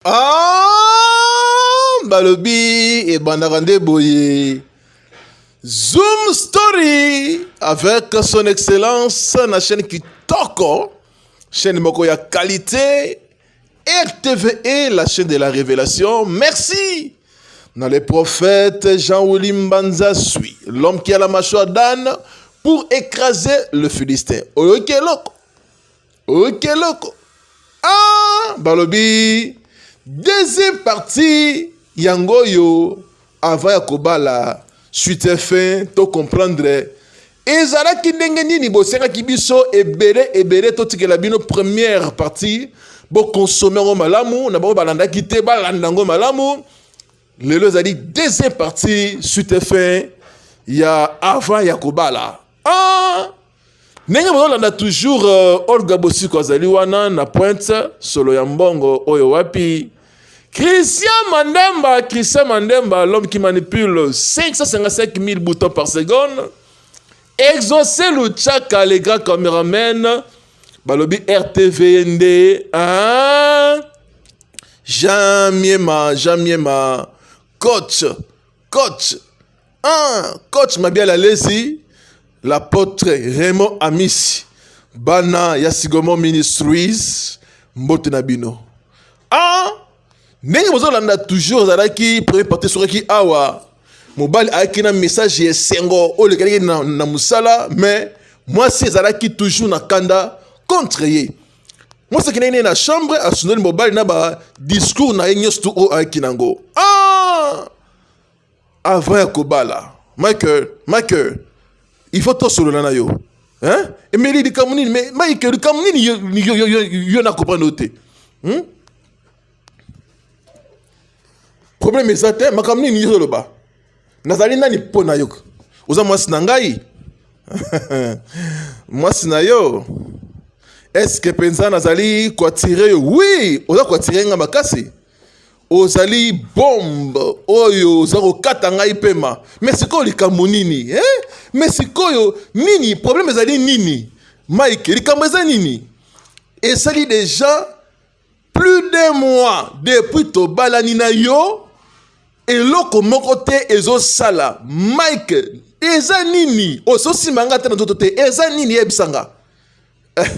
Ah, balobi ebandaka nde boye zoom story avec son excellence na chaîne kitoko chaîne moko ya qualité rtve la chaîne de la révélation merci na le prophète jean willi mbanza sui l'homme qui a la mâchoire d'âne pour écraser le philistin oyoki eloko oyoki eloko ah, balobi deuxième partie yango oyo avant ya kobala suite fin to comprendre ezalaki ndenge nini bosengaki biso ebele ebele totikela bino première partie bokonsome yango malamu na bango balandaki te balanda yango malamu lelo ezali deuxième partie suite fin ya avant ya kobala ah! ndenge bozolanda toujours uh, olga bosiko azali wana na pointe solo ya mbongo oyo wapi christian mandemba christian mandemba l'homme qui manipule 555 000 boutons par seconde exauce luchaka le grand cameraman balobi rtv ye nde ah! jean miema jean miema coach coach Ah, coach Mabiala Lesi, l'apôtre Raymond Amisi, bana ya Sigomon Ministries, mbote na bino. Ah, ndenge bozolanda toujours azalaki premier parti sokaki awa mobali ayaki na message ya esengo oyo lekalaki na, na mosala mais mwasi ezalaki toujours na kanda contre ye mwasi akendaki naye na chambre asundoli mobali na ba discours na ye nyonso tu oyo ayaki nango ah! avant ya kobala michael michael il faut tosolola na yo hein? emeli likambo nini mais michael likambo nini yo, yo, yo, yo, yo na comprendre yo te hmm? problème eza te makambo nini yo ozoloba nazali nani mpo na yo oza mwasi na ngai mwasi na yo eske mpenza nazali koatire yo wi oza koatire ngai makasi ozali bombe oyo oza kokata ngai pema me sikoyo likambo nini eh? me sikoyo nini probleme ezali nini mike likambo eza nini esali deja plus de mois depuis tobalani na yo eloko moko te ezosala mike eza nini ozosimba ngai te na nzoto te eza nini yebisa nga eh,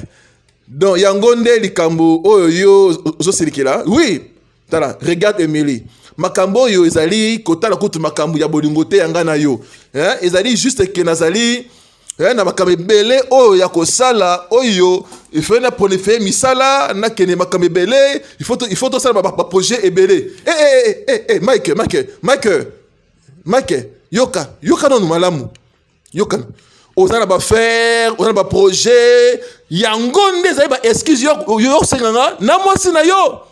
donc yango nde likambo oyo yo ozosilikela oui tala regarde emily makambo oyo ezali kotala kutu makambo ya bolingo te ya ngai na yo eh, ezali juste ke nazali eh, na makambo ebele oyo ya kosala oyo ifai na prolifere misala nakende makambo ebele ifo tosala baprojet ebele eh, eh, eh, eh, eh, mike mike mike mike yoka yoka nanu malamu yokana oza na bafaire oza na baprojet yango nde ezali baexcuse yo osenga nga na mwasi na yo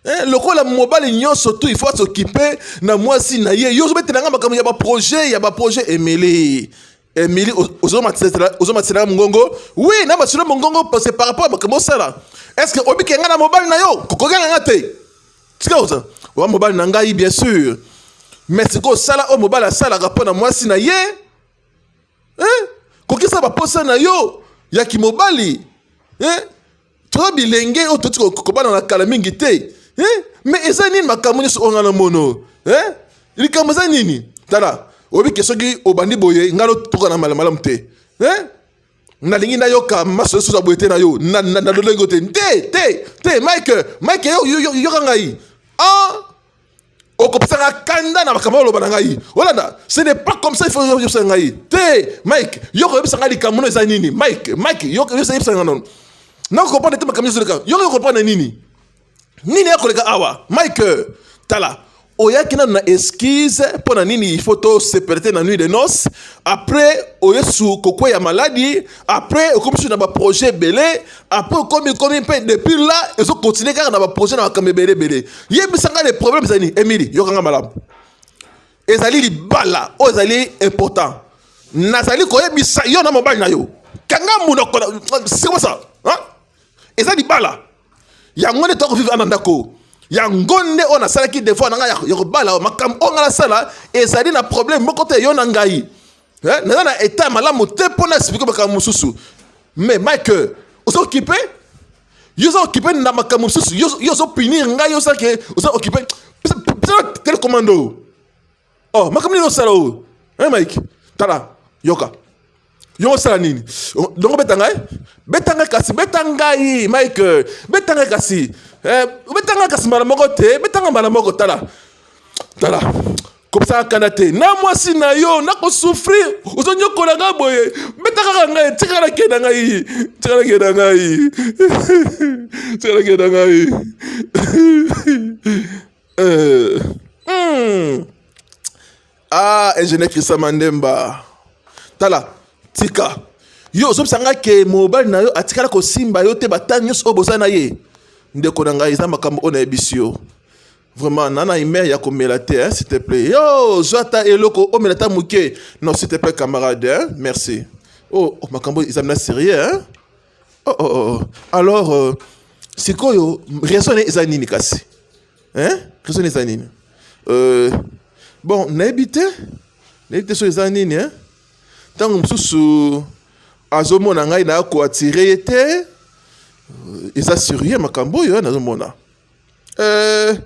Eh, lokola mobali nyonso tu ifo asokipe na mwasi na ye yo ozobetela nga makambo ya baprojet ya baprojet emeli emeli ozomatisela mongongo wi na masolo mongongo parce par rapport ya makambo osala est ce que obike nga na mobali na yo kokokanga nga te tika oza oa mobali na ngai bien sûr mais sikoyo sala oyo mobali asalaka mpo na mwasi na ye eh? kokisa baposa na yo ya kimobali eh? to bilenge oyo toti kobana na kala mingi te eh? me eza nini makambo nyonso oyo ngai na mono eh? likambo eza nini tala oyebi ke soki obandi boye ngai notoka na malamalamu te eh? nalingi nayoka maso esusu ya boye te na yo na lolenge yo te te te te mike mike yoka ngai ah okopesaka kanda na makambo oloba na ngai olanda ce n'est pas comme ça il faut yebisa ngai te mike yoko yebisa ngai likambo no eza nini mike mike yoko yebisa ngai nono nakokomprendre te makambo nyonso leka yoko yokopana nini nini ekoleka awa mike tala oyaki nanu na excuse mpo na nini il faut tosepela te na nuit de noce après oyesu kokweya maladi après okomisi na baprojet ebele après okomi komi mpe depuis là ezokontinue kaka na baprojet na makambo ebele ebele yebisa ngai le problème ezali nini emili yokanga malamu ezali libala oyo ezali important nazali koyebisa yo na mobali na yo kanga monoko sikosa eza libala yango nde toyako vivre ana ndako yango nde oyo nasalaki devoir na ngai ya kobala makambo oyo ngai nasala ezali na problème moko te yo na ngai eh, naza na etat ya malamu te mpo na explike makambo mosusu mais mike oza okipe yo oza okipe na makambo mosusu yo ozopunir ngai osalaki oza okipe telecommando oh makambo nini osala oyo eh, mike tala yoka yo osala nini dongo beta ngai beta ngai kasi beta ngai mike beta ngai kasi eh, beta ngai kasi mbala moko te beta ngai mbala moko tala tala kopesaka kanda te na mwasi na yo nakosouffrir ozonyokola ngai boye beta kaka ngai tika nake na ngai tika nake na ngai tika nake na ngai Euh, hmm. Ah, ingénieur Christian Mandemba. Tala, tika. Yo ozobisa ngai ke mobali na yo atikala kosimba yo te batani nyonso oyo boza na ye ndeko na ngai eza makambo oyo nayebisi yo vraiment na na humeur ya komela te hein, s'il te plaît yo zwa ata eloko omela ata moke non s'il te plaît camarade hein? merci oh, oh makambo eza mna sérieux hein? oh, oh, oh. oh. alors euh, sikoyo raison na ye eza nini kasi hein? raison na eza nini euh, bon nayebi te nayebi te soki eza nini hein? ntango mosusu azomona ngai na koatire ye te euh, eza surie makambo oyo nazomona euh,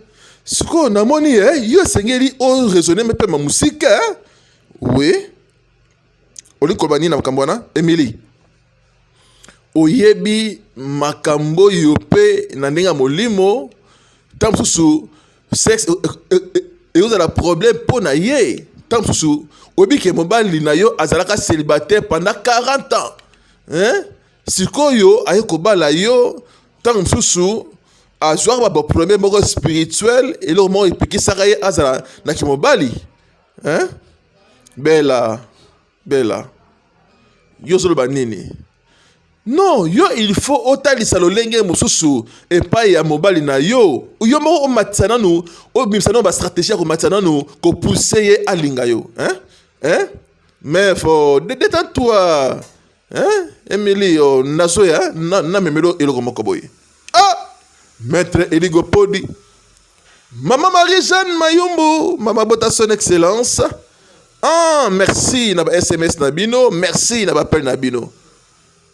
sikoyo namoni ye eh, yo esengeli oraisonne mpe ma mosika eh? oui olikoloba nini na makambo wana emilie oyebi makambo oyo mpe na ndenge ya molimo ntango mosusu sexe e, e, e, ekozala problème mpo na ye ntango mosusu oyebi ke mobali na yo azalaka célibataire pendant 40 ans hein? sikoyo aye kobala yo ntango mosusu azwaka baproblème moko spirituel eloko moko epekisaka ye azala na kimobali hein? bela Bella, yo ozoloba nini? Non, yo il faut otalisa lolenge mosusu epai ya mobali na yo. Yo moko omatisa nanu, obimisa nanu bastratégie ya komatisa nanu, kopuse ye alinga yo. Hein? Hein? Mais faut détends-toi. Hein? Emily, oh, nazoya, na, na memelo eloko moko boye. Ah! Maître Eligo Podi. Mama Marie Jeanne Mayumbu, Mama Bota son excellence. Ah, merci na ba SMS na bino, merci na ba appel na bino.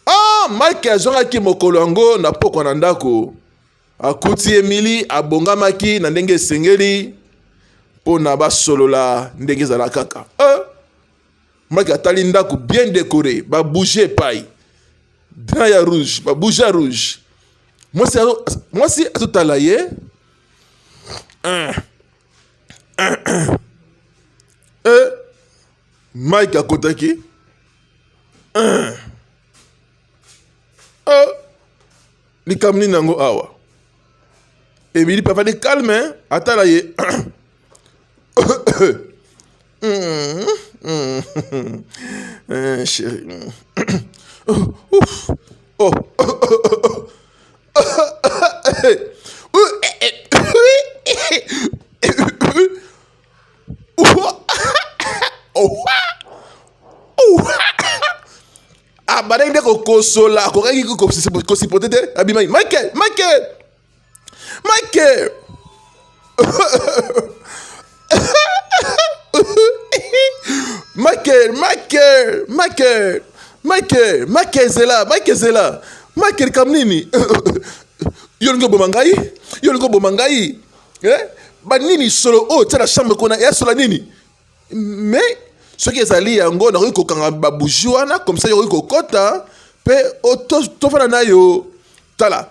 Ah, Mike azongaki mokolo yango na pokwa na ndako. Akuti Emily abongamaki na ndenge esengeli mpo na basolola ndenge ezala kaka. Eh? maki atali ndako bien decore ba bouge epai dra ya rouge ba bouge ya rouge mwasi mwasi azotala ye eh, eh, eh. eh mike akotaki eh. eh. likambo nini yango awa Emily papa de calme hein? atala ye chéri oh. abandaki nde kokosola akokaki kosipote te abimaki mike mike mike Michael, Michael, Michael, Michael, Michael Zela, Michael Zela, Michael Kamnini. yo olingi oboma ngai yo olingi oboma ngai eh? banini solo oyo oh, tya na chambre kuna eya sola nini mais soki ezali yango nakoki kokanga babuji wana komsa yokoki kokɔta mpe tofana na yo tala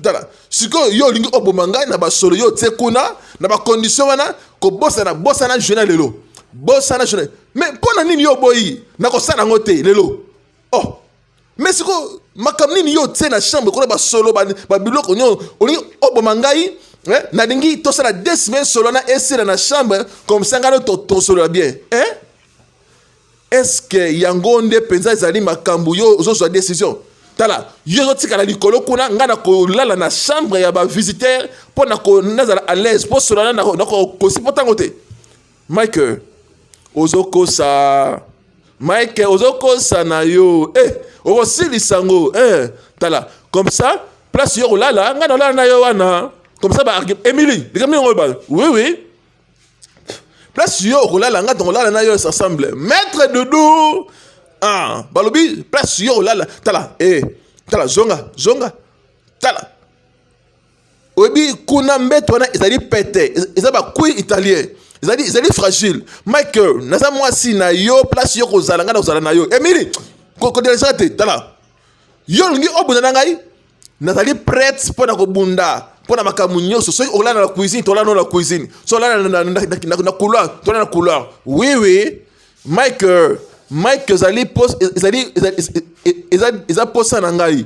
tala sikoyo yo olingi oboma ngai na basolo yo otie kuna na bakondisio wana kobosana bosana juna lelo bosana juna mais mpo na nini yo oboyi nakosala yango te lelo oh me sikoyo makambo nini yo otie na chambre kuna basolo babiloko nyonso olingi oboma ngai eh? nalingi tosala de semaine solo na esila na chambre comme ça ngai tosolola bien eh? estce yango nde mpenza ezali makambo yo ozozwa décision tala yo ozotikala likolo kuna ngai nakolala na chambre ya bavisiteur mpo nazala à l'aise mpo solana nakokosi mpo ntango te Mike ozokosa Mike ozokosa na yo eh, okosilisa yango eh, tala comme ça place yo kolala ngai nalala na yo wana comme ça ba Emily likambo yango ba oui oui place yo okolala ngai tokolala na yo ça semble maître doudou ah balobi place yo okolala tala eh tala zonga zonga tala oyebi kuna mbeto wana ezali pete eza bakui italien ezali ezali fragile michael naza mwasi na yo place yo kozala ngai nakozala na yo emili kodelesaka te tala yo olingi obunda na ngai nazali prete mpo na kobunda mpo na makambo nyonso soki olala na cuisine tolala no na cuisine soki olala na couloir tolala na couloir wiwi oui, oui. mike euh, mike ezali ezali eza posa na ngai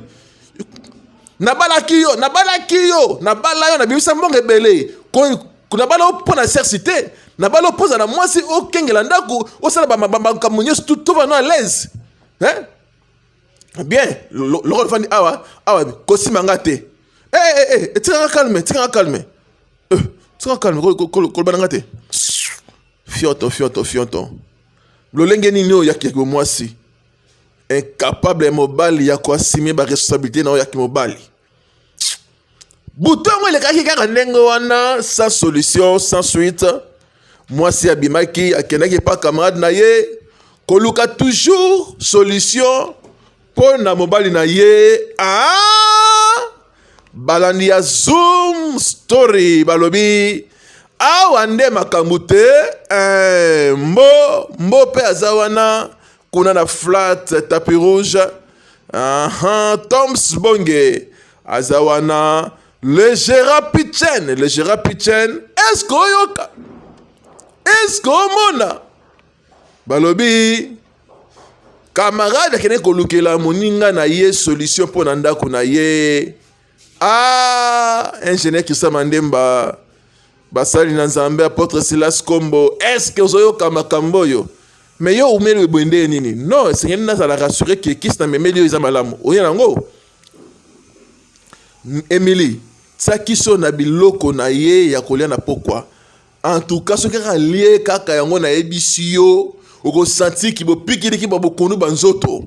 nabalaki yo nabalaki yo nabala yo nabimisa mbongo ebele nabala yo mpo na sersi te nabala yo mpo oza na mwasi okengela ndako osala bamakambo nyonso tova no alaise bien lokola ofandi awa awa kosima nga te etikanga eh, eh, eh, calme etikanga calme etikanga calme kolobana nga te Fioto fioto fioto. Lolenge nini oyo yaki ko mwasi incapable mobali ya ko assumer ba responsabilité na oyo yaki mobali. Butongo elekaki kaka ndenge wana sans solution sans suite. Mwasi abimaki akendaki pa camarade na ye koluka toujours solution mpo na mobali na ye ah! balandi ya zoom story balobi awa nde makambo te eh, mbo mbo mpe aza wana kuna na flat tapi rouge aha toms bonge aza wana le gera pichen le gera pichen eske oyoka eske omona balobi kamarade akende kolukela moninga na ye solution mpo na ndako na ye ah ingénieur christian mandemba basali na nzambe apotre silas kombo estce ozoyoka makambo oyo me yo oumeli boye ndeye nini non esengeli nazala rassure ke kisi na memeli oyo eza malamu oye nango emili tia kiso na biloko na ye ya kolia na pokwa En tout cas soki kaka lie kaka yango nayebisi yo okosantir ki bopikiliki ba bokondu ba nzoto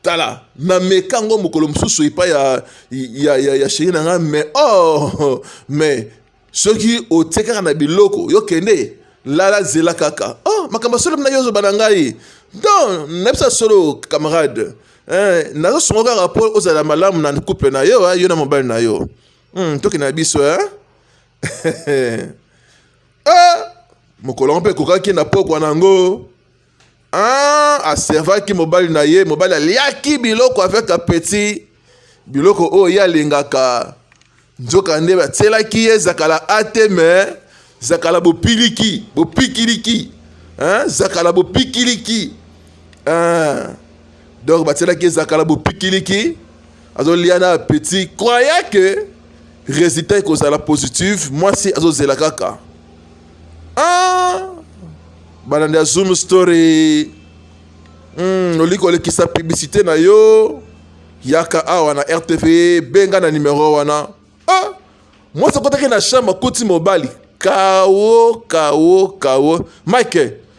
tala na meka yango mokolo mosusu epai ya, ya, ya, ya sheri na ngai mais oh mais soki otie kaka na biloko yo kende lala zela kaka oh makambo ya solo mna yo ozoba na ngai don nayebisa solo camarade eh, nazosongo kaka mpo ozala malamu na couple na yo eh, yo na mobali na yo hmm, toki na biso eh? ah, mokolo yango mpe ekokaki na pokwa na yango ah, aservaki mobali na ye mobali aliaki biloko avec apeti biloko oyo ye alingaka nzoka nde batielaki ye zakala ate me zakala bopiliki bopikiliki hein? zakala bopikiliki hein? donc batielaki ye zakala bopikiliki azolia na apeti croya ke resultat ekozala positive mwasi azozela kaka ah! balandi ya zoom story mm, olingi kolekisa publicité na yo yaka awa na rtv benga na numero wana ah! mwasi akotaki na chambre akuti mobali kawo kawo kawo mike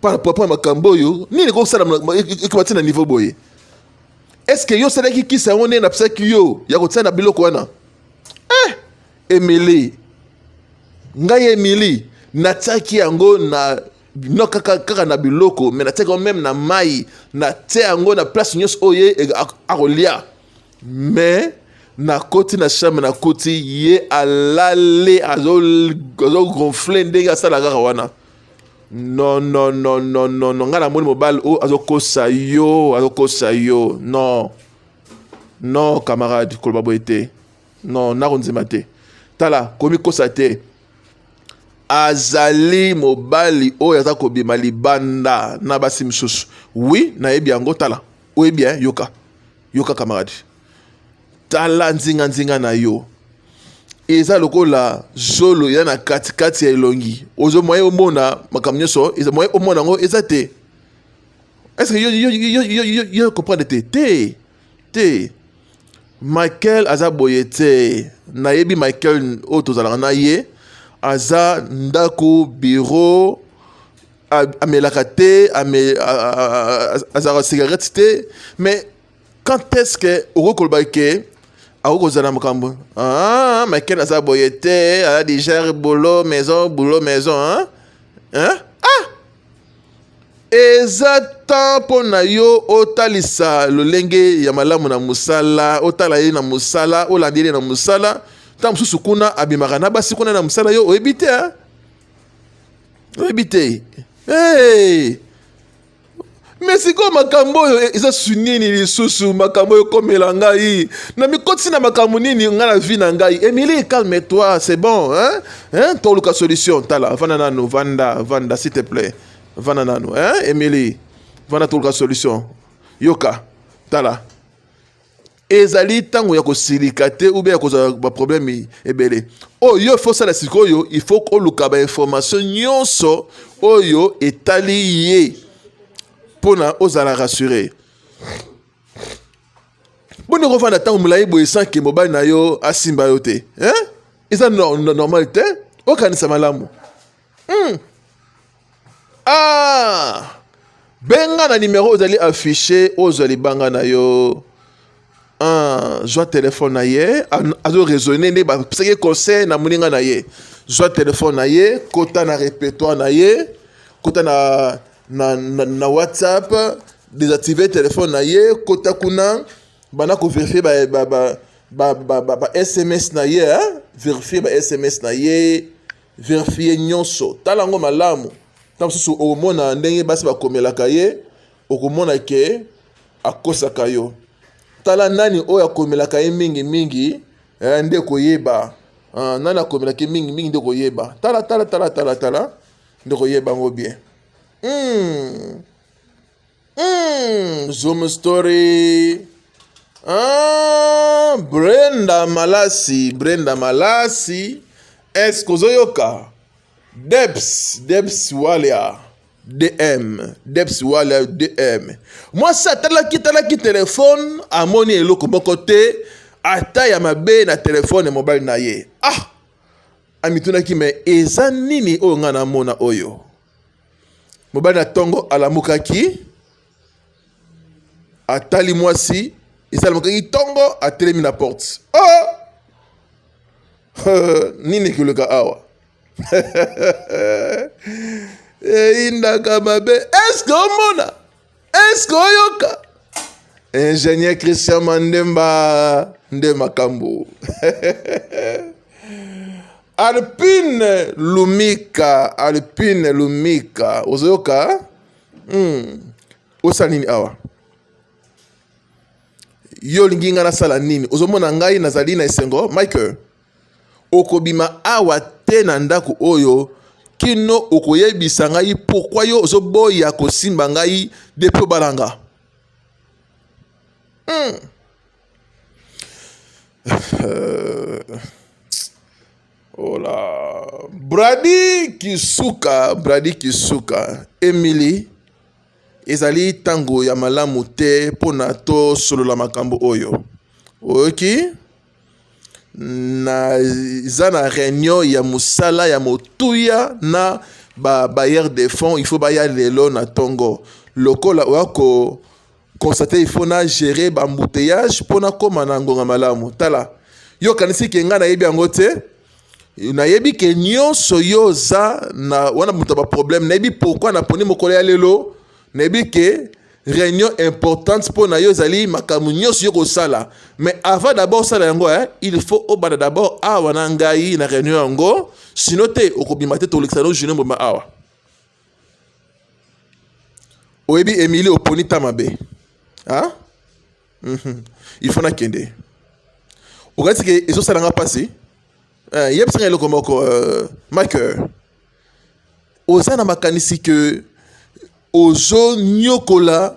par rapport na makambo oyo nini ekoki kosalama ekoma ti na niveau boye est ce que yo osalaki kisi yango nde napisaki yo ya kotia na biloko wana eh, emili ngai emili natiaki yango na no kaka, kaka na biloko me natiaki yango meme na mai natia yango na place nyonso oyo ye e, akolia me nakoti na chambre nakoti ye alale azogonfle ndenge asalaka kaka wana non non non non non non ngai namoni mobali oyo oh, azokosa yo azokosa yo non non camarade koloba boye te non nakondima te tala komikosa te azali mobali oyo aza kobima libanda na basi mosusu wi nayebi yango tala oyebi eh, yoka yoka camarade tala nzinganzinga na yo eza lokola zolo eza na katikati ya elongi ozo moye omona makambo nyonso eza moye omona yango eza te estce yo, yo, yo, yo, yo, yo comprendre te te te michael aza boye te nayebi michael oyo tozalaka na ye aza ndako biro amelaka te ame, azalaka cigarette te mais quand est-ce que okoki koloba ke akoki kozala na makambo ah, maike naza boye te ala digere boulot maison boulot maison hein? Hein? ah eza temps mpo na yo otalisa lolenge ya malamu na mosala otala ye na mosala olanda ye na mosala ntango mosusu kuna abimaka na basi kuna na mosala yo oyebi te oyebi te hey! me sikoyo makambo oyo e, eza su nini lisusu makambo oyo ekomela ngai namikotisi na makambo nini ngai na vi na ngai emili calme toi c'est bon hein? Hein? toluka solution tala vanda nanu vanda vanda s'il te plaît vanda nanu hein? emili vanda toluka solution yoka tala ezali ntango ya kosilika te ube ya kozala baprobleme ebele oyo yo ifo osala sikoyo ifo oluka bainformation nyonso oyo etali ye mpo na ozala rassure boni okofanda ntango molai boye sanke mobali na yo asimba yo te eza normal te okanisa malamu Hmm. Ah! benga na nimero ozali affiche ozwa libanga na yo ah, zwa telefone na ye azo raisonne nde bapesaki conseil na moninga na ye zwa telefone na ye kota na repertoire na ye kota na, na, na, na whatsapp désactive telefone na ye kota kuna banda koverifie ba, ba, ba, ba, ba, ba, ba sms na ye verifie ba sms na ye Verifier nyonso, tala yango malamu. Ntango mosusu okomona ndenge basi bakomelaka ye, okomona ke akosaka yo. Tala nani oyo akomelaka ye mingi mingi eh, nde koyeba ah, nani akomelaka ye mingi mingi nde koyeba. Tala tala tala tala tala nde koyeba yango bien. Hmm. Mm, zoom story. Ah, Brenda Malasi, Brenda Malasi. Est-ce que ozoyoka? Debs, Debs Walia. dm deps wala dm mwasi atalaki talaki telefone amoni eloko moko te ata ya mabe na telefone ya mobali na ye ah amitunaki me eza nini oyo ngai namona oyo Mobali na ntongo alamukaki, atali mwasi, esi alamukaki ntongo, atelemi na porte. Oh! nini ekoleka awa? eyindaka mabe, eske omona? eske oyoka ingénieur christian mandemba nde makambo alpine lumika alpine lumika ozoyoka hmm. osala nini awa yo olingi ngai nasala nini ozomona ngai nazali na esengo michael Okobima awa te na ndako oyo kino okoyebisa ngai pourquoi yo ozoboya kosimba ngai depuis obala nga hmm. Ola. Oh bradi kisuka bradi kisuka emily ezali ntango ya malamu te mpo na tosolola makambo oyo oyoki okay? naza na réunion ya mosala ya motuya na ba bailleurs de fonds il faut baya lelo na tongo lokola oya ko constate il faut na gérer ba embouteillage mpo nakoma na ngonga malamu tala yo okanisi ke ngai nayebi yango te nayebi ke nyonso yo oza na wana moto ya baproblème nayebi pourkui naponi mokolo ya lelo nayebi ke Reunion importante mpo na yo ezali makambo nyonso yo kosala, mais avant d'abord osala yango eh, il faut obanda d'abord awa na ngai na reunion yango, sino te okobima te tolekisa no journée mobimba awa. Oyebi Emily oponi ta mabe ah? mm -hmm. il faut nakende okati ke ezosala nga mpasi eh, yebisa nga eloko moko uh, eh, maker oza na makanisi ke ozoniokola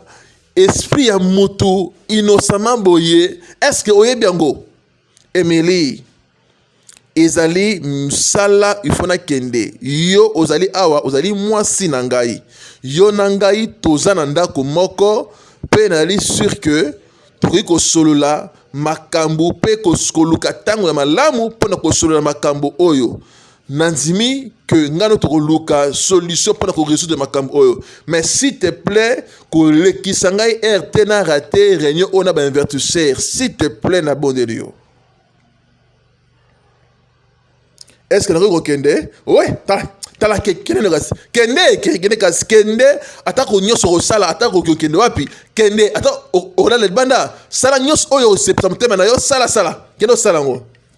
esprit ya mutu innocemment boye eske oyebi yango emili ezali mosala ifo nakende yo ozali awa ozali mwasi na ngai yo na ngai toza na ndako moko mpe nayali sur ke tokoki kosolola makambo mpe koluka ntango ya malamu mpo na kosolola makambo oyo nandimi que ngano tokoluka solution mpona koresoudre makambo oyo mais s'il te plaît kolekisa ngai air te na rate réunion oyo na bainvertiseur s'il te plaît nabondeli yo est ce que nakoki kokende we tala kende kasi kende kende kasi kende atako nyonso okosala atako okende wapi kende ata olala libanda sala nyonso oyo osepisa motema na yo sala sala kende osala yango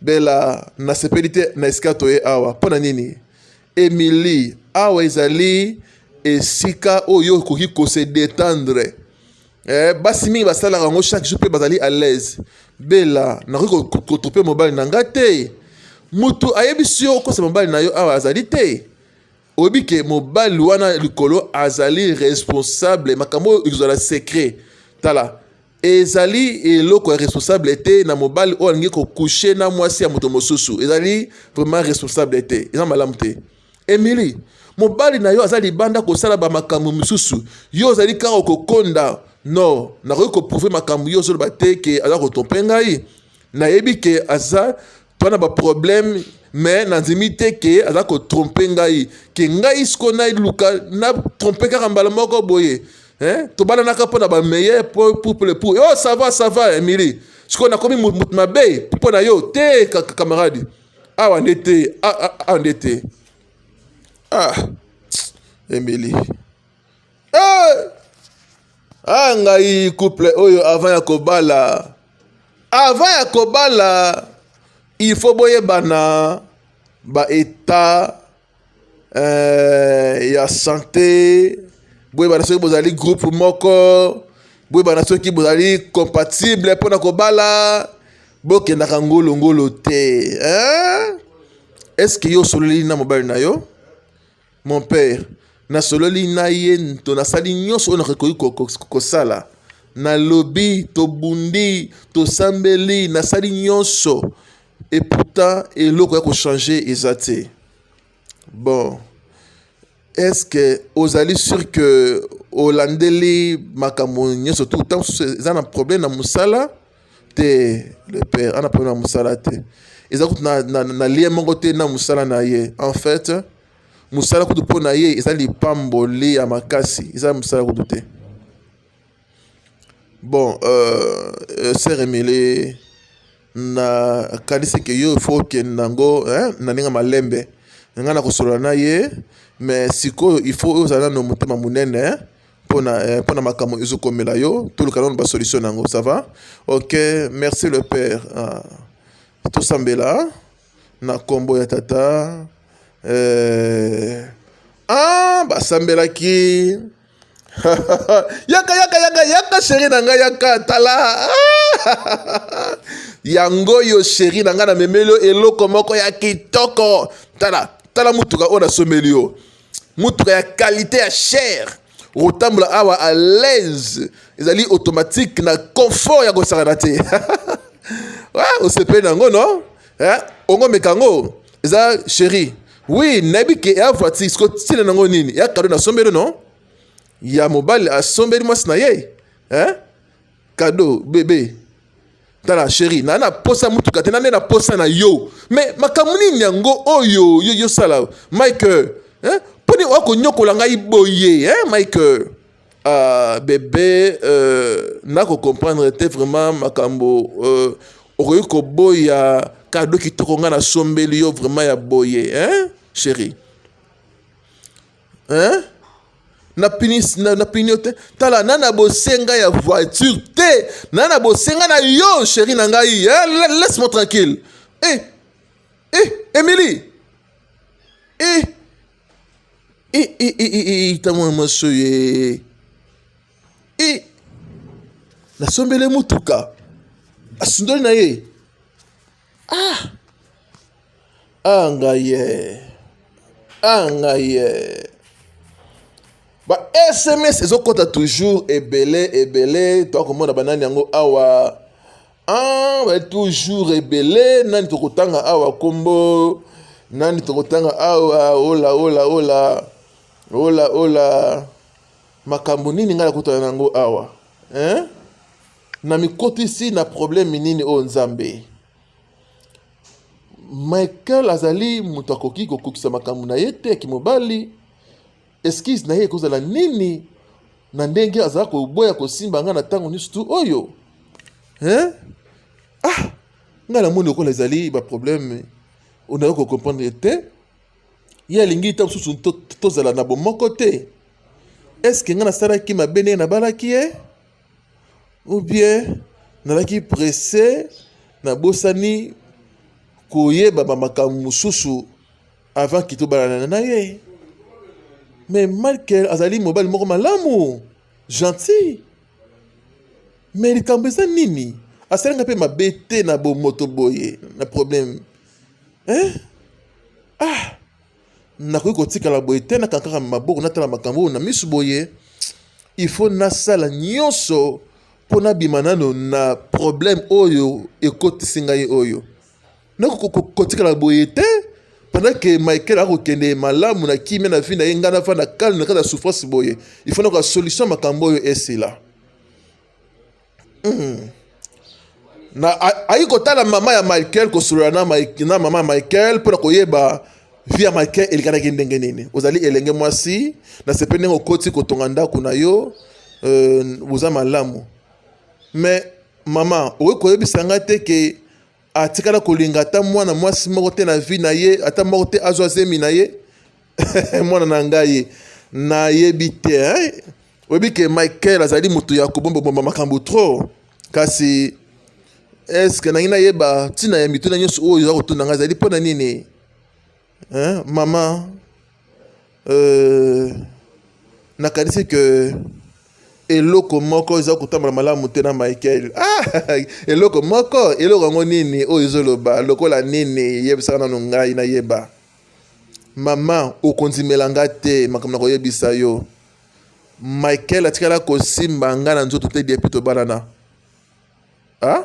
Bella nasepeli te na esika toye awa mpo na nini? Emilie awa ezali esika oyo okoki kose detendre eh, basi mingi basalaka yango chaque jour mpe bazali à l'aise. Bella nakoki kotrope mobali na ngai te, motu ayebisi yo okosa mobali na yo awa azali te. oyebi ke mobali wana likolo azali responsable makambo oyo ekozala secret tala ezali eloko ya responsable te na mobali oyo alingi kokushe na mwasi ya moto mosusu ezali vraiment responsable te eza malamu te emili mobali na yo aza libanda kosala bamakambo mosusu yo ozali kaka kokonda no nakoki koprouve makambo yo ozoloba te ke aza kotompe ngai nayebi ke aza to na baproblème mais nandimi te ke aza kotrompe ngai ke ngai siko naluka natrompe kaka mbala moko boye eh? tobalanaka mpo na bameilleur pouple pour oh, ça va ça va emili sikoyo nakomi moto mabe mpo na yo te camarade awa nde te awa nde te ah emili ah, ah, ah, Eh! Ah, ngai couple oyo avant ya kobala avant ya kobala il faut boyebana ba état euh, ya santé boyebana soki bozali groupe moko boyebana soki bozali compatible mpo na kobala bokendaka ngolongolo te hein? estce yo osololi na mobali na yo Mon père, nasololi na ye nto nasali nyonso oyo nakoki ko- ko- ko- kosala. Nalobi, tobundi, tosambeli, nasali nyonso. Et pourtant, eloko ya kochanger eza te. Bon, est-ce que ozali sur que olandeli makambo nyonso tout ntango mosusu eza na problème na mosala te le père ana problème na mosala te eza kutu na, na, na lien moko te na mosala na ye en fait mosala kutu mpo na ye eza lipamboli ya makasi eza mosala kutu te bon euh, euh sœur emile na kanisi ke yo ifo okende nango eh, na ndenge malembe ngai nakosolola na ye mais sikoyo ifo ozala nano motema monene eh? pona eh, pona makambo ezo komela yo toluka nanu ba solution nango ça va OK merci le père ah. tosambela na kombo ya tata eh ah basambelaki yaka yaka yaka yaka sheri na ngai yaka tala yango oyo sheri na ngai namemeli yo eloko moko ya kitoko tala tala motuka oyo nasomeli yo motuka ya qualité ya cher okotambola awa à l'aise ezali automatique na confort ya kosakana te osepeli na yango no eh, ongomeka yango eza chéri oui nayebi ke ya voiture siko ntina na yango nini ya kado nasombeli no ya mobali asombeli mwasi na ye eh? kado bebe tala sheri na na posa motuka te nane na posa na yo me makambo nini yango oyo yo yosala mike mponi oya konyokola ngai boye mike uh, bebe uh, nakocomprendre te vraiment makambo uh, okoki koboya kado kitoko ngai nasombeli yo vraiment ya boye hein, chérie hein? na pini na, na pini te tala na na bosenga ya voiture te na na bosenga na yo chérie na ngai eh, laisse moi tranquille eh eh Emily eh eh eh eh eh, eh tango ya maso ye eh nasombele motuka asundoli na ye Ah! Ah ngaye. Ah ngaye. Ba SMS ezokota toujours ebele ebele to komona banani yango awa. Ah, ba toujours ebele nani tokotanga awa kombo nani tokotanga awa ola ola ola ola ola makambo nini ngai nakutana na yango awa hein? Na mikotisi na problème nini oyo oh Nzambe? Michael azali moto akoki kokokisa makambo na ye te ya kimobali. Eskize na ye ekozala nini na ndenge azala koboya kosimba ngai na ntango nyonso tu oyo hein? ah ngai namoni lokola ezali baproblème onayoki kocomprendre te ye alingi ntango mosusu tozala na bomoko te estce ngai nasalaki mabe ndenge nabalaki ye eh? Ou bien nalaki presse nabosani koyeba ba makambo mosusu avant kito balanana na ye mais Michael azali mobali moko malamu gentil mais likambo eza nini asali nga mpe mabe te na bomoto boye na problème hein? ah nakoki kotikala boye te nakankaka maboko natala makambo oyo na miso boye il faut nasala nyonso mpo nabima nano na problème oyo ekotisi ngai oyo nakotikala boye te pendant que michael akokende malamu na kimia na vie na ye ngai nafanda calme na kati ya souffrance boye il faut nakoka solution makambo oyo esila Hmm. Na ayi kotala mama ya Michael kosolola na Mike na mama ya Michael mpo na koyeba vie ya Michael elekanaki ndenge nini. Ozali elenge mwasi, nasepeli ndenge okoti kotonga ndako na yo, euh, oza malamu. Mais mama, okoki koyebisa ngai te ke atikala kolinga ata mwana mwasi moko te na vie na ye ata moko te azwa zemi na ye mwana na ngai nayebi te eh? oyebi ke michael azali moto ya kobombabomba makambo trop kasi eske nangi nayeba ntina ya mituna nyonso oyo oza kotuna ngai ezali mpo na nini hein maman euh, nakanisi que eloko moko eza kotambola malamu te na michael ah, eloko moko eloko yango nini oyo ezoloba lokola nini yebisaka nano ngai nayeba mama okondimela nga te makambo na koyebisa yo michael atikala kosimba ngai na nzoto te depuis tobalana ah?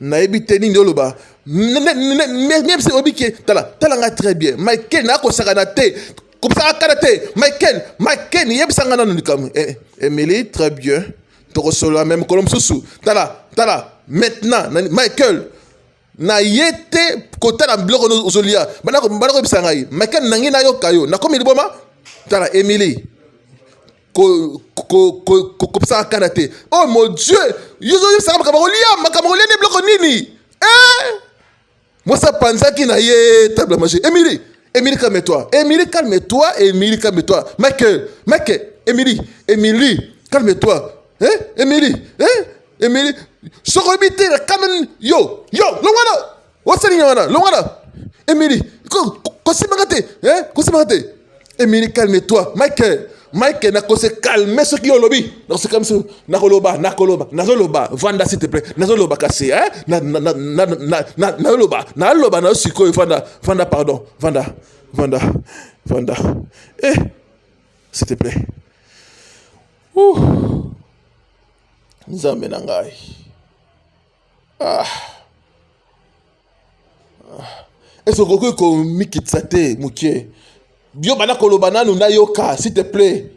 nayebi te nini oloba meme se oyebi ke tala tala ngai très bien michael nakosakana te kobisaka kala te michael michael yebisa ngai nano likambo eh, eh, emily très bien tokosolola me mokolo mosusu tala tala maintenant michael na ye te kotala biloko ozolia bana koyebisa ngai michael nangi nayoka yo nakomi liboma tala emily kopesaka kanda te oh mon dieu yozoyebisaka makambo kolia makambo kolia nde biloko nini eh? mwasi apanzaki na ye table manger emili emili calme toi emili calme toi emili calme toi mike mike emili emili calme toi eh? emili eh? emili soki oyebi te na kanda yo yo longwana osali nini wana longa na emili kosimbaka te eh, kosimbaka te emili calme toi michael mike nakose calme soki yo olobi nakose calme soki nakoloba nakoloba nazoloba vanda s'il te plaît nazoloba kasi eh? nazoloba naloba na yo sikoyo vanda vanda pardon vanda vanda vanda eh s'il te plaît nzambe na ngai Est-ce que okoki komikitisa te moke yo banda koloba nanu nayoka s'il te plaît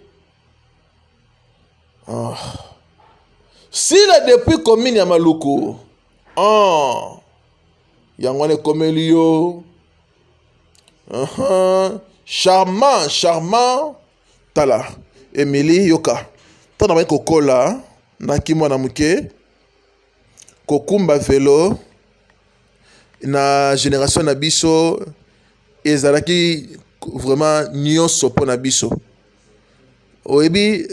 oh. sila depuis commune ya maluku oh. yango wana ekomeli yo uh -huh. charmant charmant tala emili yoka ntango nabandi kokola naki mwana moke Kokumba velo na generation na biso ezalaki vraiment nyonso mpo na biso. Oyebi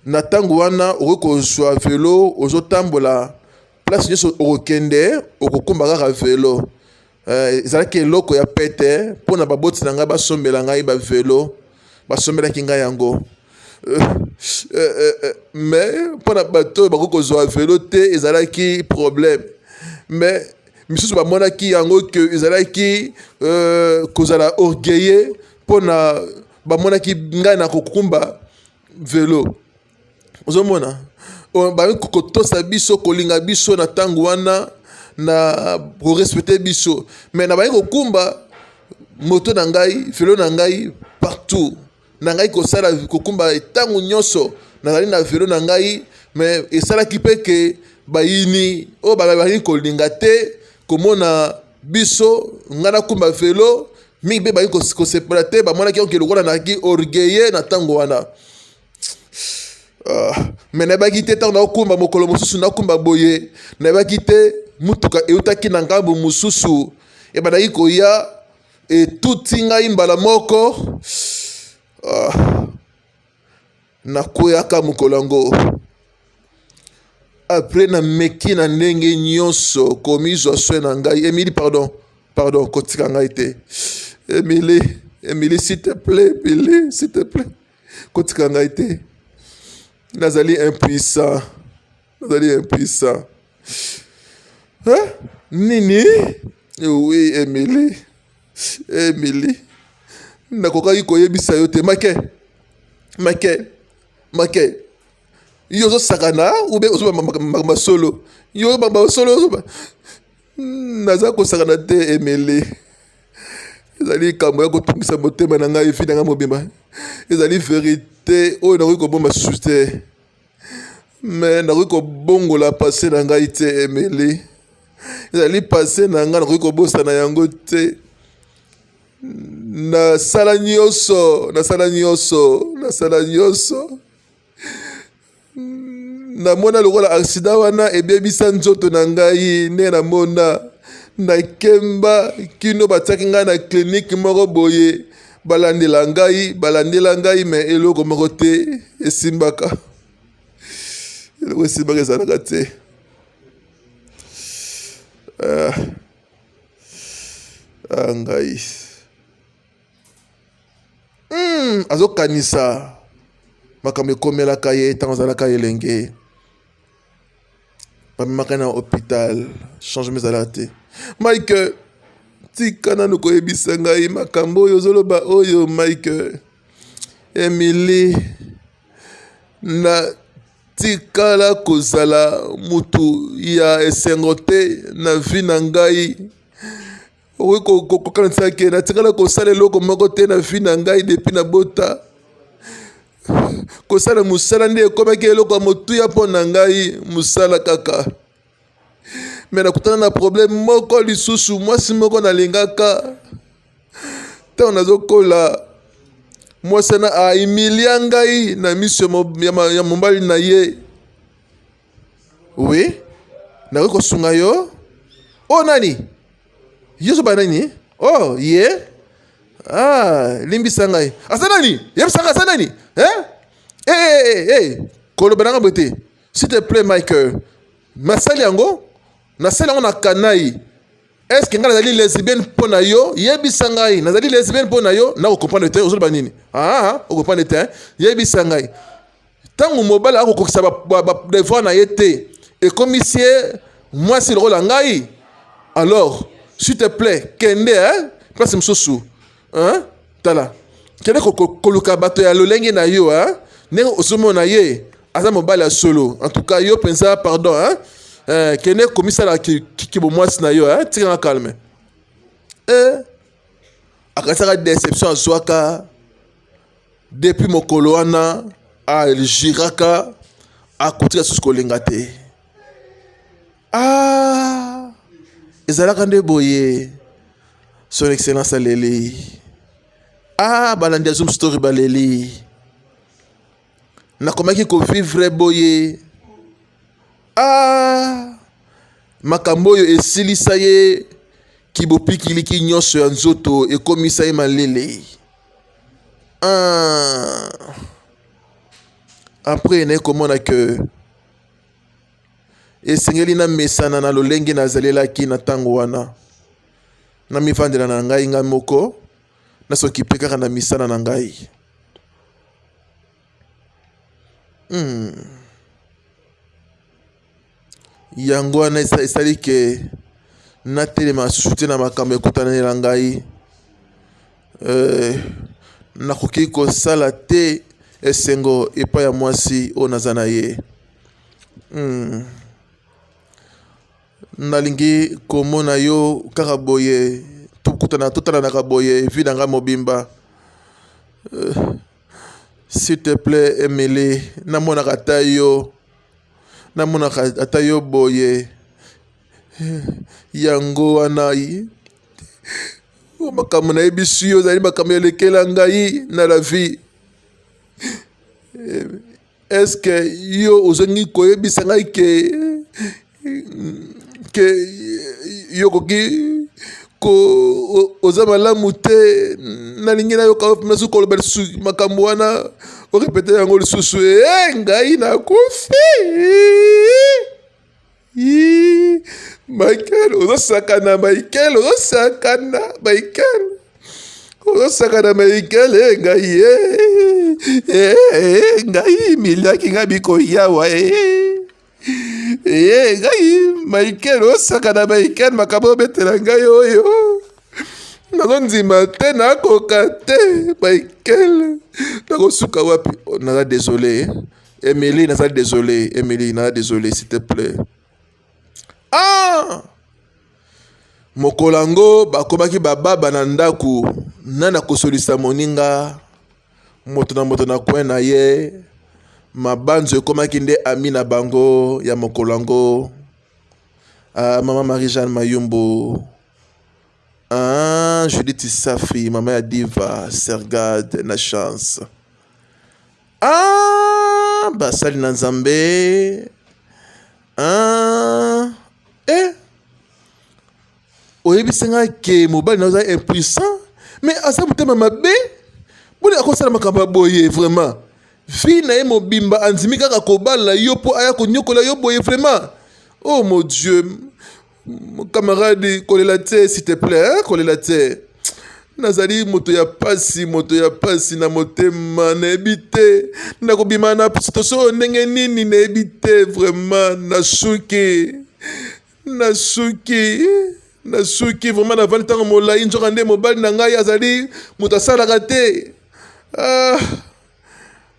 na ntango wana okoki kozwa velo ozotambola place nyonso okokende okokumba kaka velo. Eh, ezalaki eloko ya pete mpo na baboti na ngai basombela ngai bavelo basombelaki ngai yango eh, eh, mais mpo na bato oyo bakoki kozwa velo te ezalaki problème mais misusu bamonaki yango ke ezalaki kozala orgueilleux mpo na bamonaki ngai na kokumba velo ozomona baye kotosa biso kolinga biso na ntango wana na korespecte biso me na baye kokumba moto na ngai velo na ngai partout na ngai kosala kokumba ntango nyonso nazali na velo na ngai me esalaki mpe ke bayini oyo bazali kolinga te komona biso ngai nakumba velo mingi mpe bayi kosepela te bamonaki yango ke lokola nayaki orgueille na ntango wana Ah, me nayebaki te ntango naokumba mokolo mosusu nakumba boye nayebaki te motuka eutaki na ngambo mosusu ebandaki koya etuti ngai mbala moko ah, nakweyaka mokolo yango apres nameki na ndenge nyonso komizwa swe na ngai emili pardon pardon kotika ngai te emili emili s'il te plaît emili s'il te plaît kotika ngai te nazali impuissant nazali impuissant hein? nini oui emily emily nakokaki koyebisa yo te make make make yo ozosakana ube ozobamba makambo ya solo yo obamba solo ozoba Hmm, naza kosakana te emele ezali likambo ya kotungisa motema na ngai efi na ngai mobimba ezali verite oyo nakoki kobomba susu te me nakoki kobongola pase na ngai te emele ezali pase na ngai nakoki kobosana yango te nasala nyonso nasala nyonso nasala nyonso namona lokola aksida wana ebebisa nzoto na ngai nde namona nakemba kino batiaki ngai na klinike moko boye balandela ngai balandela ngai me eloko moko te esimbaka eloko esimbaka ezalaka te ah, ah, ngai hmm, azokanisa makambo ekomelaka ye ntango azalaka elenge bamemaka na hôpital changement ezalaka te mike tika nanu koyebisa ngai makambo oyo ozoloba oyo mike emili na tikala kozala motu ya esengo te na vi na ngai okoki kokanisa ke natikala kosala eloko moko te na vi na ngai depi na bota kosala mosala nde ekomaki eloko ya motuya mpo na ngai mosala kaka me nakutana na probleme moko lisusu mwasi moko nalingaka ntango nazokola mwasi wana aimilia ngai na miso ya mobali na ye Oui, nakoki kosunga yo. Oh nani? Yesu ba nani? Oh ye. Yeah. Ah, limbisa ngai. Asa nani? Yebisa ngai asa nani? Eh? Eh eh eh. eh, eh. Koloba nanga bote. S'il te plaît Michael. Nasali yango. Nasali yango na kanai. Est-ce que ngai nazali lesbienne mpo na yo? Yebisa ngai. Nazali lesbienne mpo na yo? Nako comprendre te. Ozoloba nini? Ah, ah, ah. o comprendre te. Yebisa ngai. ntango mobali akokokisa badevoir na ye te ekomisi ye mwasi lokola ngai alors s'il te plaît kende hein? place mosusu hein? tala kende koluka bato ya lolenge na yo hein? ndenge ozomona ye aza mobali ya solo en tout cas yo mpenza pardon hein? eh, kende komisala kibomwasi na yo hein? tikanga calme eh, akanisaka deception azwaka depuis mokolo wana aljiraka akotika susu kolinga te ah, ezalaka nde boye son excellence aleli ah, balandi ya zoom story baleli nakomaki kovivre boye ah, makambo oyo esilisa ye kibopikiliki nyonso ya nzoto ekomisa ye malele ah. apres naye komona ke esengeli namesana na lolenge nazalelaki na ntango wana namifandela na ngai ngai moko na soki mpe kaka na misala na ngai hmm. yango wana esali ke natelema susu te na makambo ekutanela ngai eh, nakoki kosala te esengo epai ya mwasi oyo naza na ye hmm. Nalingi komona yo kaka boye tokutana totalanaka boye vie na ngai mobimba euh, s'il te plaît Emily namonaka ata yo namonaka ata yo boye euh, yango wana oh, makambo nayebisi yo ozali makambo elekela ngai na la vie euh, Est-ce que yo ozongi koyebisa ngai ke ke yo okoki ko oza malamu te nalingi nayoka yo mpenza soki koloba lisusu makambo wana orepete yango lisusu e ngai nakufi Yii, Michael ozosakana Michael ozosakana Michael ozosakana Michael e eh, ngai ye eh, eh, ngai miliaki ngai bikoyawa e e ngai Michael ozosakana Michael makambo obetela ngai oyo nazondima te nakoka te Michael nakosuka wapi oh, naza desole Emily, naza désolé. Emily, naza désolé, s'il te plaît. Ah! mokolo yango bakomaki bababa na ndako nani akosolisa moninga moto na moto na kwen na ye mabanzo ekomaki nde ami na bango ya mokolo yango ah, mama marie jeanne mayumbu ah, judith safi mama ya diva sergade na chance Ah, basali na Nzambe. Ah, eh. oyebisi ngai ke mobali na oza impuissant mais aza motema mabe boni akosala makambo ya boye vraiment vi na ye mobimba andimi kaka kobala yo mpo aya konyokola yo boye vraiment oh mon dieu camarade kolela te s'il te plaît hein? kolela te nazali moto ya pasi moto ya pasi na motema nayebi te nakobima na situation oyo ndenge nini nayebi te vraiment nasuki nasuki nasuki vraiment navandi ntango molai nzoka nde mobali na ngai azali moto asalaka te ah,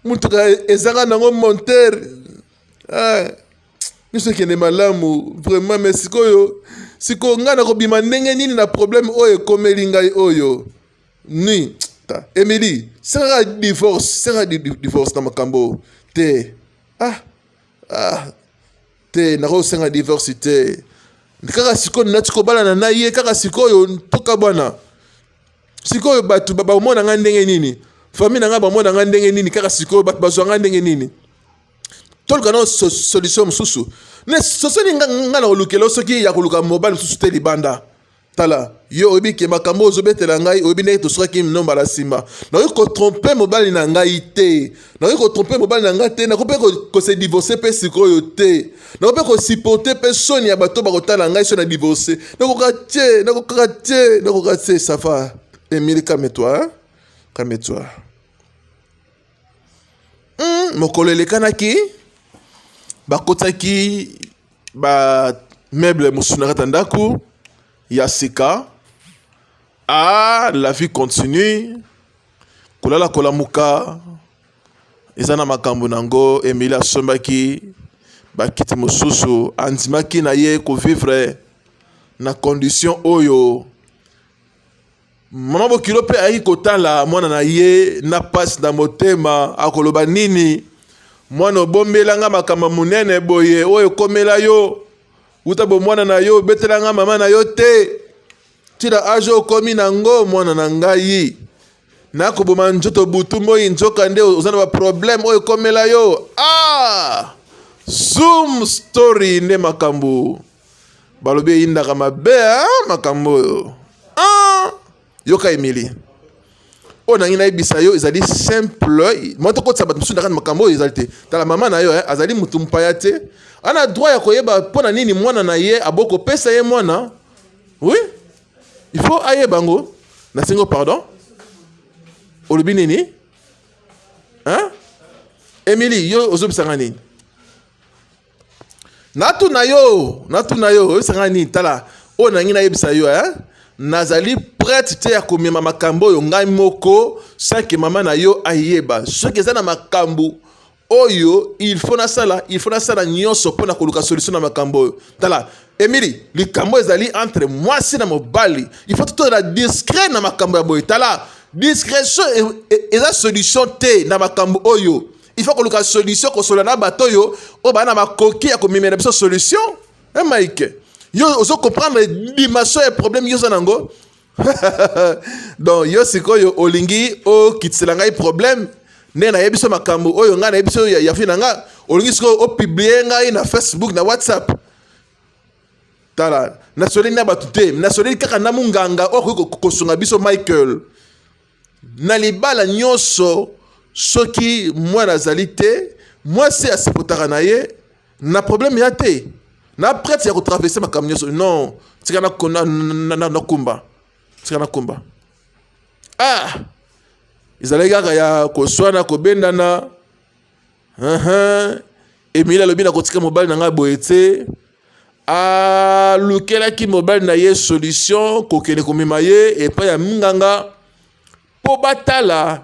motuka ezanga nango montere ah. biso ekende malamu vraiment me sikoyo sikoyo ngai nakobima ndenge nini na problème oyo ekomeli ngai oyo ni ta emili sengaka divorce sengaka di- di- divorce na makambo oyo te ah, ah, te nakosenga divorce te kaka sikoyo nati kobalana na ye kaka sikoyo toka bwana sikoyo bato ba- bamona ngai ndenge nini famille na ngai bamona ngai ndenge nini kaka sikoyo bato bazwa ngai ndenge nini toluka nao solution mosusu me sosoni nga na kolukela yo soki ya koluka mobali mosusu te libanda tala yo oyebi ke makambo oyo ozobetela ngai oyebi ndenge tosukaki mino mbala nsima nakoki kotrompe mobali na ngai te nakoki kotrompe mobali na ngai te nakoki mpe kose divorce mpe sikoyo te nakoki mpe kosiporte mpe soni ya bato bakotala ngai soni ya divorce nakoka te nakoka te nakoka te safa emili kametwa kametwa Hmm, mokolo elekanaki bakotaki ba meuble mosusu na kati ya ndako ya sika ah la vie continue kolala kolamuka eza na makambo na yango emili asombaki bakiti mosusu andimaki na ye kovivre na condition oyo Mama Bokilo mpe ayaki kotala mwana na ye na pasi na motema, akoloba nini? Mwana obombela nga makambo monene boye oyo ekomela yo uta bomwana na yo, obetela nga mama na yo te tila age okomi na ngo mwana na ngai nakoboma nzoto butu moi nzoka nde oza na baproblème oyo ekomela yo ah! zoom story nde makambo balobi eyindaka mabe ah, makambo oyo ah, yoka emili oyo nangi nayebisa yo ezali simple mwa tokotisa bato mosusu ndakani makambo oyo ezali te tala mama na yo eh, azali motu mpaya te ana droit ya koyeba mpo na nini mwana na ye aboko kopesa ye mwana oui il faut ayeba yango nasengi pardon olobi nini hein? emili yo ozobisanga nini natuna yo natuna yo oyebisanga nini tala oyo nangi nayebisa yo eh? nazali prete te ya komema makambo oyo ngai moko sanke mama na yo ayeba soki eza na makambo oyo il faut nasala il faut nasala nyonso mpo na koluka solution na makambo oyo tala emili likambo ezali entre mwasi na mobali il faut totozala discret na makambo ya boye tala discrétion e, e, eza solution te na makambo oyo il faut koluka solution kosola na bato oyo oyo baa na makoki ya komemela biso solution e mike yo ozo comprendre dimension ya problème yo oza nango donc yo sikoyo olingi okitisela ngai problème nde nayebi biso makambo oyo ngai nayebi biso yafi na ngai olingi sikoyo opiblie ngai na facebook na whatsapp tala nasoleli na bato te nasoleli kaka na monganga oyo akoki kosunga biso michael Na libala nyonso, soki mwana azali te, mwasi asepotaka na ye na problème ya te na prete ya kotraverse makambo nyonso non tika nakumba tika nakumba ah ezalaki kaka ya koswana kobendana Emile alobi na kotika mobali na ngai boye te alukelaki mobali na ye solution kokende komema ye epai ya minganga mpo batala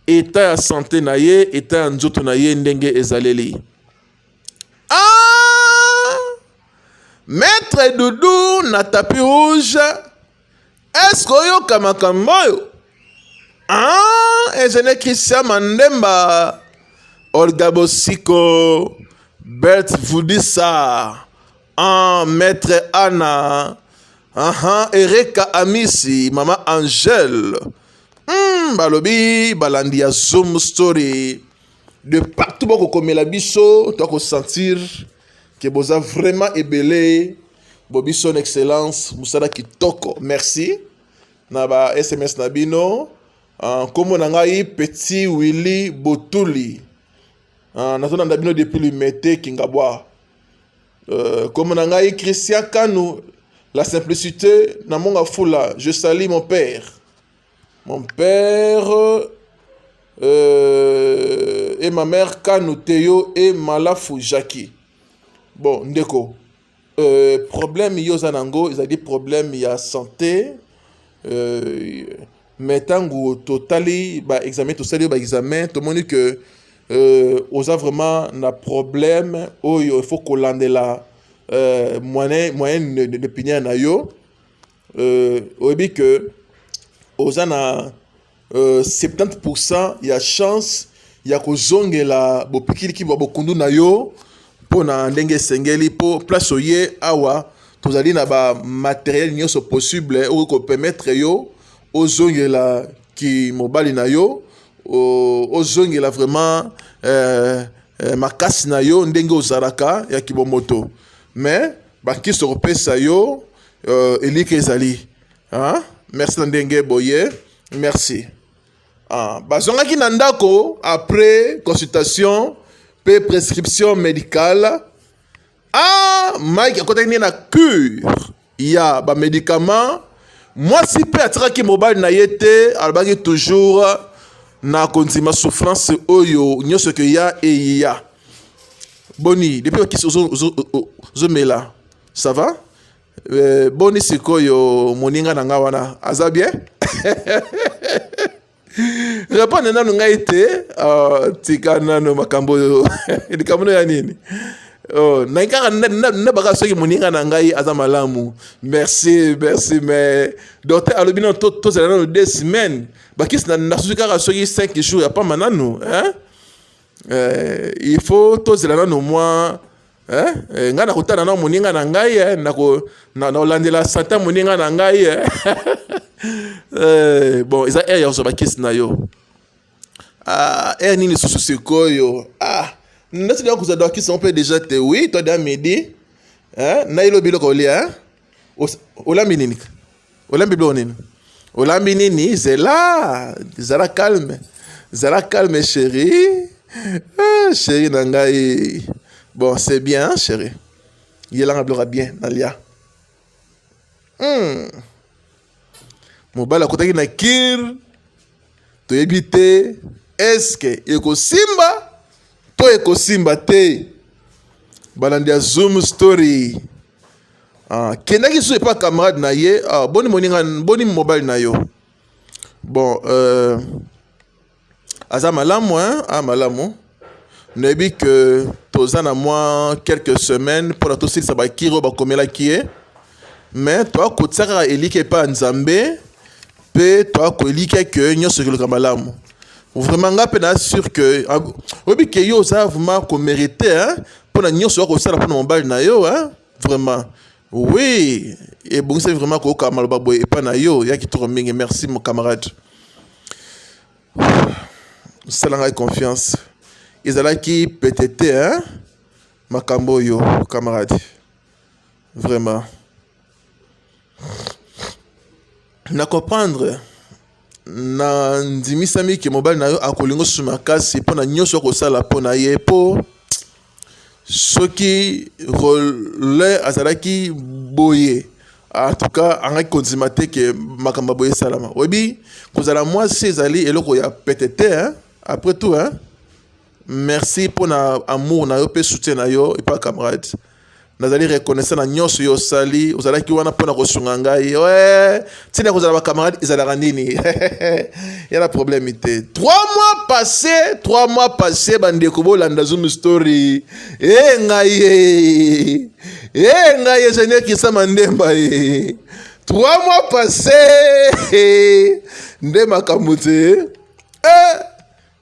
eta ya sante na ye eta ya nzoto na ye ndenge ezaleli ah! maître dudu na tapi rouge Est-ce que oyoka makambo oyo? Ah, ezali Christian Mandemba, Olga Bosiko, Bert Vudisa, ah, Maître Anna, aha, Ereka Amisi, Mama Angèle. Hmm, balobi balandi ya Zoom story de partout bokokomela biso tokosentir ke boza vraiment ebele Bobi son excellence musala kitoko merci na ba sms na bino ah, nkombo na ngai petit willy botuli ah, nazolanda bino depuis limete kingabwa euh, nkombo na ngai christian kanu la simplicité na monga fula je sali mon père mon père euh, et ma mère kanu teyo et malafu jacki bon ndeko Euh, problème yo oza nango ezali problème ya santé euh, mais ntango totali baexamen tosali yo baexamen tomoni ke euh, oza vraiment na problème oyo il faut kolandela euh, moyen, moyen de, de, de pinière na yo euh, oyebi ke oza na euh, 70% ya chance ya kozongela bopikiliki bwa bokundu na yo mpo na ndenge esengeli mpo place oye awa tozali na bamateriele nyonso possible okoki kopermettre yo ozongela kimobali na yo ozongela vraiment eh, eh, makasi na yo ndenge ozalaka ya kibomoto mais bakisi kopesa yo eh, elika ezali Hein? Merci na ndenge boye. Merci. Ah, bazongaki na ndako après consultation pe prescription médicale. Ah, Mike akotaki nde na cure ya ba médicaments. Mwasi pe atikaki mobali na ye te, alobaki toujours na kondima souffrance oyo nyonso ke ya eya. Boni, depuis okisi ozomela, ça va? Eh, boni sikoyo moninga na ngai wana aza bien repone nanu ngai te oh, tika nano makambo oyo likambo no ya nini oh, nangi kaka nabaka soki moninga na ngai aza malamu merci merci mais docteur alobi nano tozala nano deux semaines bakisi nasusi kaka soki 5 jours ya pamba nanu hein? Euh, il faut tozela nano mwa Eh, eh, ngai nakotana na moninga na ngai eh, nakolandela santa moninga na ngai eh. eh, bon eza aire ya kozwa bakisi na yo ah, aire nini lisusu sikoyo ah, neti nakozwa bakisi yango mpe deja te wi to da midi eh, nayelobi eloko olia eh? olambi nini olambi biloko nini olambi nini zela zala calme zala calme chérie ah, chérie na ngai bon c'est bien hein, chérie yelanga biloko ya bien nalia hmm. mobali akotaki na kir toyebi te eske ekosimba to ekosimba te balandi ya zoom story Ah, kendaki lisusu epa camarade na ye ah, boni moninga boni mobali na yo bon euh, aza malamu hein? a ah, malamu nayebi ke toza na mwa quelques semaines mpo na tosilisa bakiri oyo bakomelaki ye mais toakotisa kaka eliki epai ya nzambe mpe toya koelikya ke nyonso ekoloka malamu vraiment nga mpe naa sur ke ah, oyebi ke yo oza vraiment komerite mpo na nyonso oya kosala mpo na mobali na yo vraiment oui ebongisaki vraiment koyoka maloba boye epai na yo ya kitoko mingi merci mon camarade sala ngai confiance ezalaki pete te makambo oyo camarade vraiment na comprendre na ndimisami ke mobali na yo akolinga osusu makasi mpo na nyonso akosala mpo na ye mpo soki role azalaki boye en tout cas angaki kondima te ke makambo boye esalama oyebi kozala mwasi ezali eloko ya pete te hein? après tout hein? Merci mpo na amour na yo mpe soutien na yo epa camarade nazali reconnaissant na nyonso yo osali ozalaki wana mpo na kosunga ngai oe ntina ya kozala bacamarade ezalaka nini ya na problème te trois mois passé trois mois passé bandeko bolanda zoom story e eh, ngai e eh, eh, ngai ingénieur kisama ndemba e trois mois passé nde makambo te eh.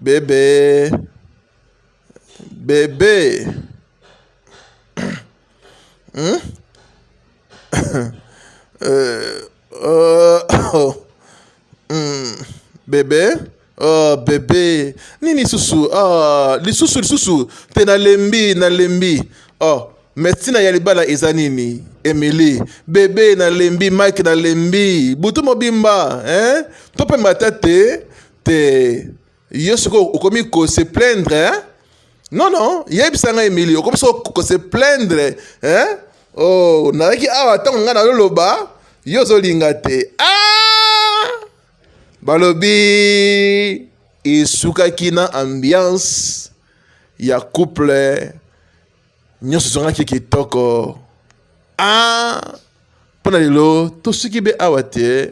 Bebe bebe hmm? euh, oh, oh. Hmm. bebe oh, bebe nini lisusu oh, lisusu lisusu te nalembi nalembi oh. Mais tina ya libala eza nini? Emily, bebe na lembi, Mike na lembi, butu mobimba, hein? Tope mata te, te. Yo soko okomi ko se plaindre, hein? Non non, yebisa nga Emily, okomi soko ko se plaindre, hein? Oh, nazalaki awa ntango ngai nazoloba yo ozolinga te. Ah! Balobi esukaki na ambiance ya couple nyonso ezongaki kitoko a ah, mpo na lelo tosuki be awa te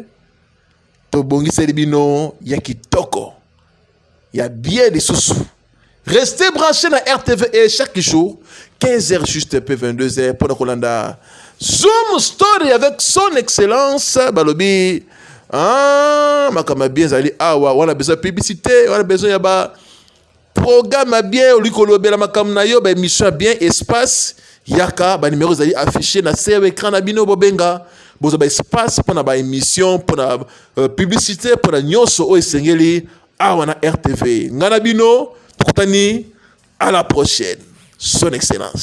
tobongiseli bino ya kitoko ya bie lisusu reste branché na rtv e chaque jour 15 heures juste pe 22 heures mpo na kolanda zoom story avec son excellence balobi ah, makambo ya bien ezali awa wana besoin ya publicité wana besoin ya ba Programme ya bien olingi kolobela makambo na yo ba émission ya bien espace yaka ba numéro ezali affiché na se ya écran na bino bobenga bozwa ba espace mpo na ba émission mpo na euh, publicité mpo na nyonso oyo esengeli awa na rtv ngai na bino tokutani à la prochaine son excellence